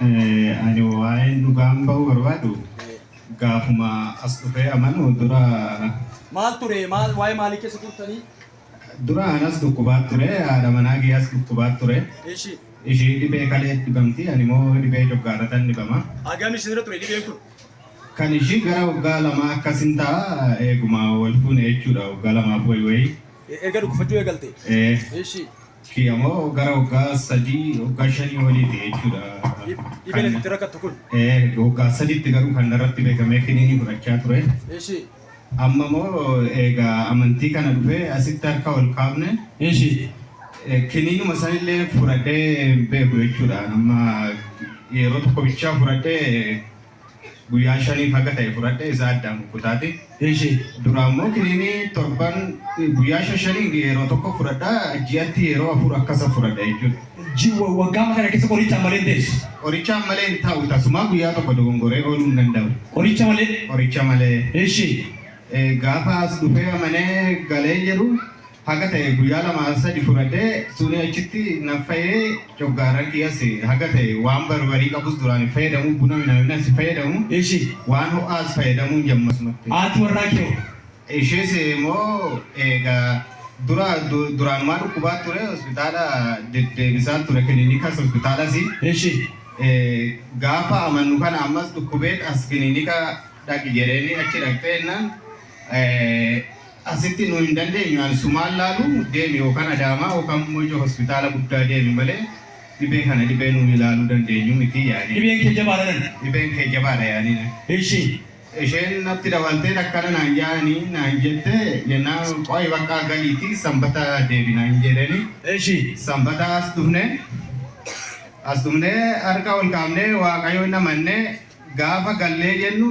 Ani waa'een dhugaan ba'uu barbaadu gaafuma as dhufee amanu dura Maal ture? Maal waa'ee maalii keessa turtanii? dura anas dhukkubaa ture haadha manaa kiyyaas dhukkubaa ture Eshi. ishii dhibee kalee dhibamti ani moo dhibee coggaaratan dhibama Agam isinirra ture dhibeen kun? kan ishii gara waggaa lamaa akkasin ta'a eeguma wal fuune jechuudha waggaa lamaaf wayi wayi Erga dhukkufachuu eegalte? ee Eshi. kiyya moo gara waggaa sadii waggaa shanii oliiti jechuudha. Dhibeen itti rakkattu kun. Waggaa sadiitti garuu kan narratti beekamee kiniinii fudhachaa ture. Eshi. Amma moo egaa amantii kana dhufee asitti harka ol kaafne. Eshi. Kiniinuma sanillee fudhadhee hin beeku jechuudha. Amma yeroo tokko bichaa fudhadhee Guyyaa shaniif haga ta'e fudhadhe isaa addaan kukkutaate. Eshi. Duraan immoo kiniinii torban guyyaa shan shaniin yeroo tokko fudhadha ji'atti yeroo afur akkasa fudhadha jechuudha. Ji waggaama kana keessa qorichaan malee hin teessu. Qorichaan malee hin taa'u tasumaa guyyaa tokko dogongoree ooluu hin danda'u. Qoricha malee. Qoricha malee. Eshi. Gaafa as dhufee amanee galee jedhu Haga taye guyya lama sadi fud'ad'e, suni achiti na fayye, ch'oggaaran kiyyas haga taye waan barbari qabus duraan hinfayyadamu, buna minaminas hinfayyadamu, Ishi. waan ho'aas fayyadamuun jammasmatti. Haati warraa kee hoo? Ishiis immoo eega dura duraanumaa dhukkubaa ture, hospitaala deddeebisaan ture, kiliinikas hospitaalas. Ishi. Gaafa amannu kana ammas dhukkubeet as kiliinika dhaqi jedheeni achi dhaqxe jennaan Asitti nu hin dandeenyu an sumaan laalu deemi yookan Adaamaa yookan Mojo hospitaala guddaa deemi malee dhibee kana dhibee nu ilaaluu dandeenyu miti yaaniin. Dhibeen kee jabaadha nan. Dhibeen kee jabaadha yaaniin. Eshi. Esheen natti dawaltee akkana naan jaani naan jette jennaan qoyi baqqaa galiiti sanbata deebina hin jedheni. Eshi. Sanbata as dhufne. As dhufnee harka ol kaafnee waaqayyoon amanne gaafa gallee jennu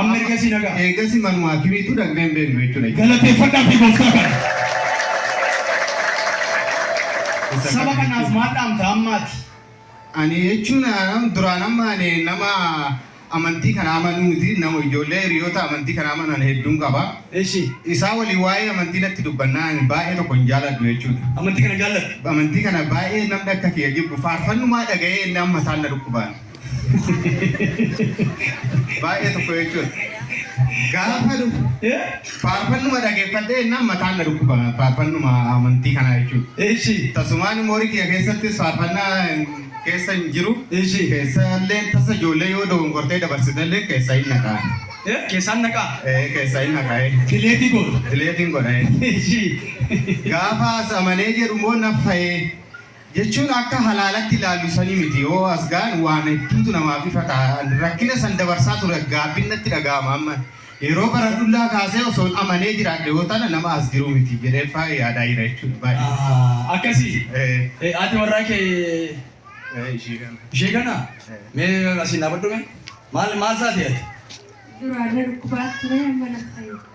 Amma ergasii nagaa. Eegasii manuma akimiitu dhaqnee hin beeknu jechuudha. Galateeffadhaa fi gooftaa kana. Isa Saba kana kanaaf jechuun- maal dhaamta ammaati? Ani jechuun ah, duraan amma ani nama amantii kana amanuu miti nama ijoollee hiriyoota amantii kana amanan hedduun qaba. Eshi. Isaa waliin waa'ee amantii natti dubbannaa ani baay'ee tokko hin jaaladhu jechuudha. Amantii kana jaalladha. Amantii kana baay'ee namni akka kiyya jibbu faarfannumaa dhaga'ee inni amma isaan na dhukkubaan. Baay'ee tokko jechuudha. Gaafa dhufu faarfannuma dhageeffadhee innaan mataan na dhukkuba faarfannuma amantii kanaa jechuudha. Eeshi. Tasumaan immoo horii kiyya keessattis faarfannaa keessa hin jiru. Eeshi. Keessa illee tasa ijoollee yoo dogongortee dabarsite illee keessa hin naqaa. Keessaan naqaa. Eh, Keessa hin naqaa. eh. Dileetii goota. Dileetiin godha. eh. Eeshi. Gaafa as amanee jedhu immoo naffa'ee jechuun akka halaalatti ilaallu sanii miti yoo as ga'an waan hedduutu namaaf ifa ta'a an rakkina san dabarsaa ture gaabbiin natti dhaga'ama amma yeroo baradhullaa kaasee osoon amanee jiraadhe yoo tana nama as jiru miti jedhee faa yaadaa jira jechuudha baay'ee Ah, akkasii Eh, Eh, haati warraa kee eh, ishii kana. ishee kana Eh. mee asiin dhaabadhu mee maal maal taate ati Duraarra dhukkubaa ture amma na fayyada.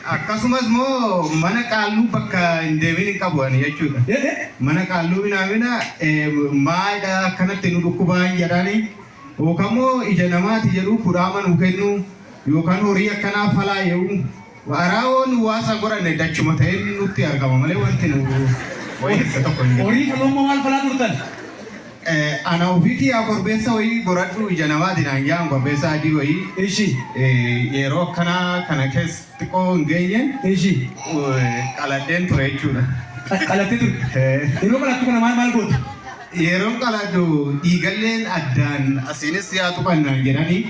Akkasumas moo mana qaalluu bakka hin deemin hin qabu ani jechuudha. Mana qaalluu minaamina maayidha akkanatti nu dhukkubaa hin jedhaani. Yookaan moo ija namaati jedhuu kudhaama nu kennu yookaan horii akkanaa falaa ye'uu. Araa woo nu waasa godhanne dachuma ta'een nutti argama malee wanti nu wayyeessa tokko hin jiru. Horii faluu amma maal falaa turtan? Ana ofii tiyaa korbeessa wayii goradhuu ija namaati naan ja'an korbeessa adii wayii Ishi. yeeroo akkanaa kana keessa xiqqoo hin geenyeen Ishi. qaladheen ture jechuudha. Qalattee turte. Ee. Yeroo qalattu kana maal maal goote? Yeroon qaladhu dhiigalleen addaan asiinis yaa tuqan naan jedhanii.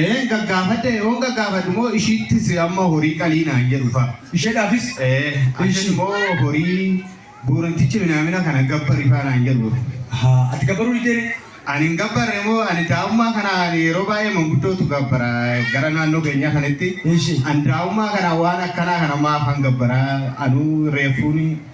Eeen gaggaafadhe yoon gaggaafadhu moo ishiittis amma horii qalii naan jedhu fa. Isheedhaafis? Ee Ishi. Annan moo horii buurantichi minaamina kana gabbari fa naan jedhu. Ahaa ati gabbaruu diddee ree? Ani hin gabbarre moo ani daa'ummaa kana ani yeroo baay'ee manguddootu gabbara gara naannoo keenyaa kanatti. Eshi. Ani daa'ummaa kana waan akkanaa kana maafan gabbara anuu reeffuuni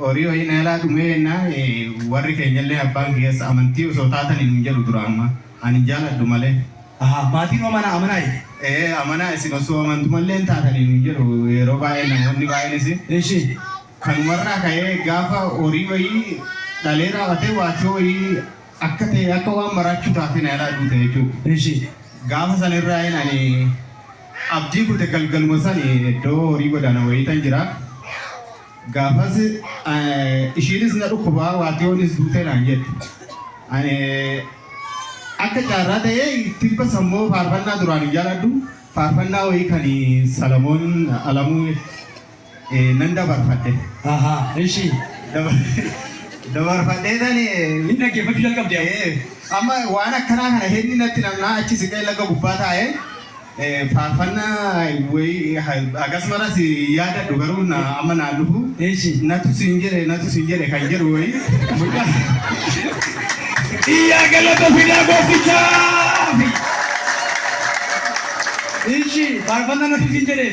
Horii wayii na jalaa dhumee jennaan warri keenyallee abbaan kiyyas amantii osoo taatanii nuun jedhu dura amma. Ani hin jaaladhu malee. Ahaa maatiin hoo mana amanaa iti? Ee amanaa isin osoo amantumalleen taatanii nuun jedhu yeroo baay'ee namoonni baay'eenis. Eshi. Kanumarraa ka'ee gaafa horii wayii dhalee raaw'atee waachoo wayii akka ta'e akka waan maraachuu taatee na jalaa duute jechuudha. Eshi. Gaafa sanirraayin ani abdii kute galgaluma sani eddo horii godana wayitan jira gafas ishiinis na dhukkuba waatiyonis duute naan jette ani akka caarraa ta'e tibba sammoo faarfannaa duraan hin jaaladhu faarfannaa wayii kan salamoon alamuu eh, nan dabarfadhe. Ahaa, ishi. Dabar- Dabarfadhee tani Inni dhaggeeffachuu jalqabde amma. eh, amma waan akkanaa kana hedni natti namnaa achi siqee laga gubbaa taa'e eh, faarfannaa wayii akkasumas yaadadhu garuu na- amma naa dhufu Ishi. natu siin jedhe natu siin jedhe kan jedhu wayii mucaa Iyyaa galata fidaa gooftichaa. Ishi, faarfannaa natti siin jedhee.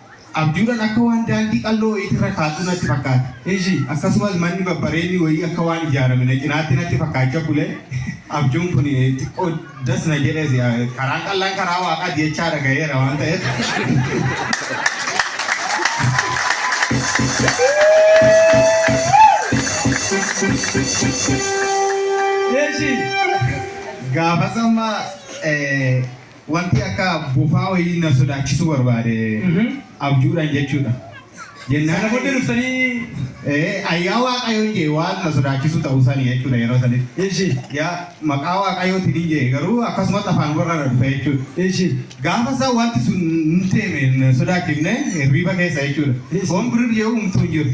Abjuudhan akka waan daandii qal'oo wayiitti irra kaadhu natti fakkaate. Ishi, akkasumas manni babbareedni wayii akka waan ijaarame na cinaatti natti fakkaacha bule. Abjuun kun xiqqoo das na jedhes. Karaan qal'aan karaa Waaqaati jechaa dhagayeera waan ta'eef. Ishi, gaafas amma Wanti akka bofaa wayii na sodaachisuu barbaade abjuudhaan jechuudha. Jennaan Sana booddee dhuftanii ee ayyaa waaqayyoon jee waan na sodaachisuu ta'uu sani jechuudha yeroo sanitti. ishi Yaa maqaa waaqayyootiin hin jee garuu akkasumatti afaan warra na dhufe jechuudha. ishi Gaafa isaa wanti sun hin teeme hin sodaachifne hirriiba keessa jechuudha. Waan birrii jedhu umtuu hin jiru.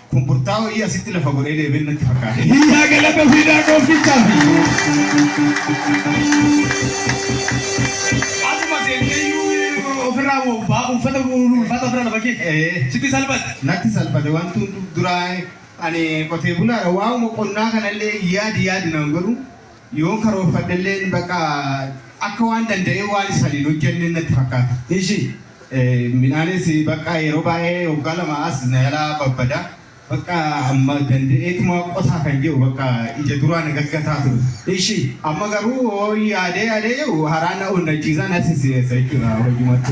Kun burtaa wayii asitti lafa godhee deebiin natti fakkaate. Hiyyaa galata fiidaa gooftichaaf. Asuma seenteeyyuu ofirraa moo baa uffata ulfaata ofirra lafa kee Ee, sitti salphate. natti salphate wanti hundu duraa ani qotee bulaadha waa'uma qonnaa kanallee yaadi yaadi naan godhu Yoon karoorfadhelleen bakka akka waan danda'ee waan isa ani hin hojjenne natti fakkaata. Ishii midhaanis bakka yeroo baay'ee waggaa lamaa as na jalaa babbada. Bakka amma danda'eetuma qotaa kan jiru bakka ija duraa na gaggataa ture. Ishii amma garuu yaadee yaadee jiru haraa na onnachiisa na sisireessa jechuudha hojumattu.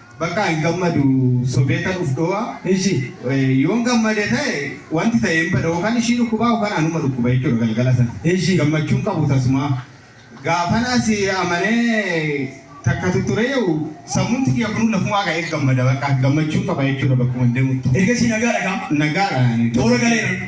Bakkaa hin gammadu sobeetan uf dhowa Ishi. yoon gammade ta'e wanti ta'e hin bada okan ishii dhukkubaa okan anuma dhukkuba jechuudha galgala sana Ishi. gammachuu hin qabu tasumaa gaafan asi amanee takka tuttureeyu sammuunti kiyya kunuu lafumaa ka'ee gammada bakka gammachuu qaba jechuudha bakkuman deemuttu. Ergasii nagaadha kaa? Nagaadha. Toora galeera.